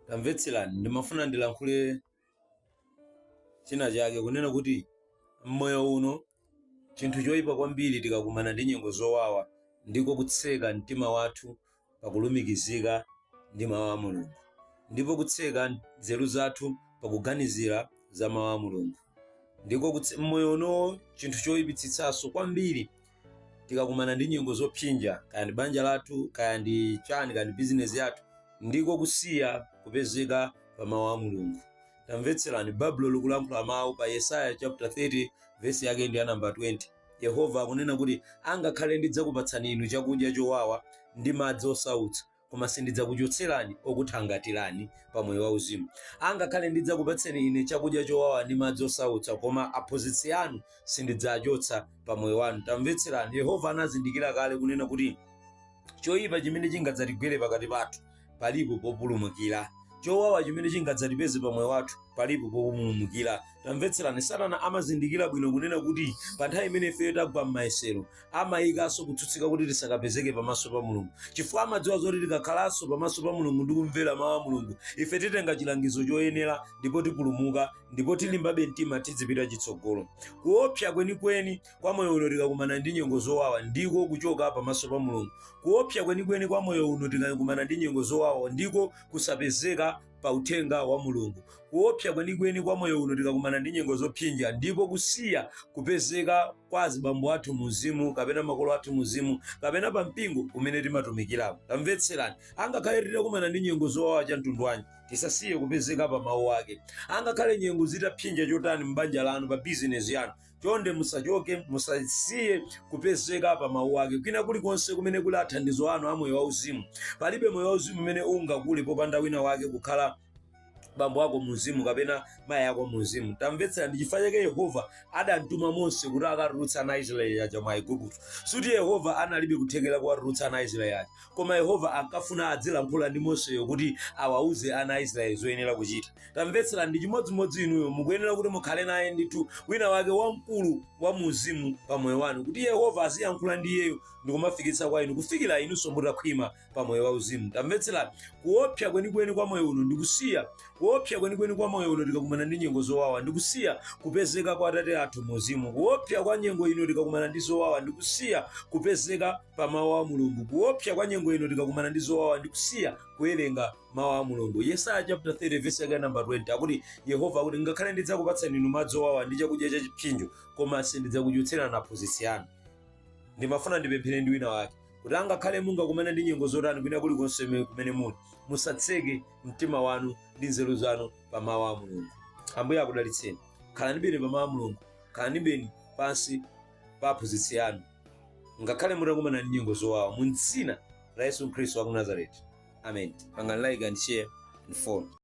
tamvetserani ndimafuna ndilankhule china chake kunena kuti mmoyo uno chinthu choyipa kwambiri tikakumana ndi nyengo zowawa ndiko kutseka mtima wathu pakulumikizika ndi mawu a mulungu ndipo kutseka nzeru zathu pakuganizira za mawu a mulungu ndipo m'moyo uno chinthu choyipitsitsanso kwambiri tikakumana ndi nyengo zopsinja kaya ndi banja lathu kaya ndi chani kaya ndi bizinesi yathu ndiko kusiya kupezeka pa mawu a mulungu tamvetserani baibulo likulankhula mawu pa yesaya chapter 30 vesi yake ndi ya namba 20 yehova akunena kuti angakhale ndidzakupatsani inu chakudya chowawa ndi madzi osautsa koma sindidzakuchotserani okuthangatirani pa moyo wauzimu. Angakhale ndidzakupatseni ine chakudya chowawa ndi madzi osautsa, koma aphunzitsi anu sindidzachotsa pa moyo wanu. Tamvetserani, Yehova anazindikira kale kunena kuti choyipa chimene chingadzatigwere pakati pathu palipo populumukira chowawa chimene chingadzatipeze pa moyo wathu palipo populumukira. Tamvetserani, Satana amazindikira bwino kunena kuti pa nthawi imene ifeyo tagwa m'mayesero, amayikanso kutsutsika kuti tisakapezeke pamaso pa mulungu chifukwa amadziwa zoti tikakhalanso pamaso pa mulungu ndi kumvera mawu a mulungu ife titenga chilangizo choyenera ndipo tipulumuka ndipo tilimbabe mtima tidzipita chitsogolo kuopsa kwenikweni kwa moyo uno tikakumana ndi nyengo zowawa ndiko kuchoka pamaso pa mulungu kuopsa kwenikweni kwa moyo uno tikakumana ndi nyengo zowawa ndiko kusapezeka pa uthenga wa Mulungu. Kuopsa kwenikweni kwa moyo uno tikakumana ndi nyengo zopsinja ndiko kusiya kupezeka kwa azibambo athu muuzimu kapena makolo athu muuzimu kapena pa mpingo umene timatumikiramo. Tamvetserani, angakhale titakumana ndi nyengo zowawa cha mtundu wanji, tisasiye kupezeka pa mawu ake. Angakhale nyengo zitapsinja chotani m'banja lanu, pa bizinesi yanu, chonde musachoke musasiye kupezeka pa mawu ake kwina kulikonse kumene kuli athandizo anu a moyo wauzimu palibe moyo wauzimu umene ungakule popanda wina wake kukhala bambo ako muuzimu kapena mayi ako muuzimu tamvetsera ndi chifukwa chake yehova adamtuma mose kuti akatulutse ana aisraeli aja mwa igupto suti yehova analibe kuthekera kuwatulutsa ana aisraeli aja koma yehova ankafuna adzilankhula ndi moseyo kuti awauze ana aisraeli zoyenera kuchita tamvetsera ndi chimodzimodzi inuyo mukuyenera kuti mukhale naye ndithu wina wake wamkulu wa muuzimu pa moyo wanu kuti yehova aziyankhula ndi iyeyo ndikumafikitsa kwa inu kufikira inunso mutakhwima pa moyo wauzimu tamvetserani kuopsa kwenikweni kwa moyo uno ndikusiya kuopsa kwenikweni kwa moyo uno tikakumana ndi nyengo zowawa ndikusiya kupezeka kwa atate athu muuzimu kuopsa kwa nyengo ino tikakumana ndi zowawa ndikusiya kupezeka pa mawu a mulungu kuopsa kwa nyengo ino tikakumana ndi zowawa ndikusiya kuwerenga mawu a mulungu yesaya chapter 30 verse yake namba 20 akuti yehova akuti ngakhale ndidzakupatsani inu madzi owawa ndi chakudya cha chipsinjo koma sindidzakuchotserani aphunzitsi anu ndimafuna ndipemphere ndi wina wake kuti angakhale mungakumana ndi nyengo zotani kwina kulikonse me- kumene muli musatseke mtima wanu ndi nzeru zanu pa mawu a mulungu ambuye akudalitseni khalani bwino pa mawu a mulungu khalani bwino pansi pa aphunzitsi anu ngakhale mutakumana ndi nyengo zowawa mu dzina la yesu khristu wa ku nazareti amen pangani like and share and follow